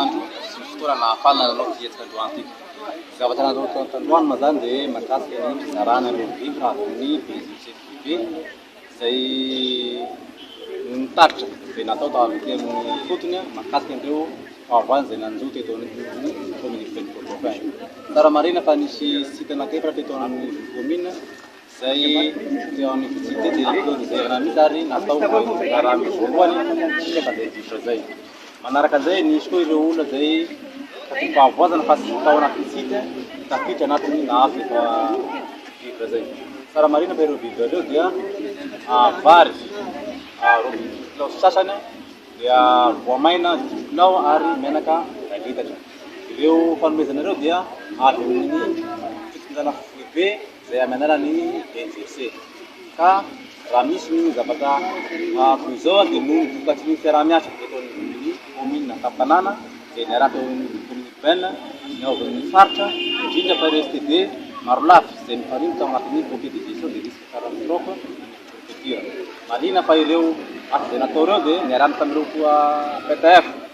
Andro sy fotoana nahafahana nanao ity hetsika androany ity. Ny zavatra natao tandroany moa izany dia mahakasika ny fizarana ireo vivres avy amin'ny Brésil sy FDB izay noho ny tatitra izay natao tao avy aty amin'ny ifotony mahakasika an'ireo fahavalo izay nanjo teto anivon'ny kaomin'i Ivelomboto. Tsara marihina fa nisy site anankiefatra teto amin'ny commune. izay teo amin'ny vitsy tety dia teo izay raha misy ary natao fa raha misy voalohany dia efa izay diso izay manaraka izay nisy koa ireo olona izay tsy fahavoazana fa tsy tao anaty site tafiditra anatin'ny nahazo efa vivre izay tsara marina fa ireo vivre ireo dia ah, vary ah, robibi kilao sasany dia voamaina dimy kilao ary menaka iray litatra ireo fanomezana ireo dia avy amin'ny fitondrana foibe izay amin'ny alalan'ny EJC. Ka raha misy ny zavatra toy izao dia noho ny vokatry ny fiaraha-miasa ataon'ny kaominina an-tampon-tanàna izay niaraka eo amin'ny kaominina urbaine niaovan'ny faritra, indrindra fa ireo STD marolafy izay mifarina tao anatin'ny Comité de gestion des risques catastrophes any amin'ny prefecture. Marihina fa ireo asa izay natao ireo dia niarahana tamin'ireo toa PTF.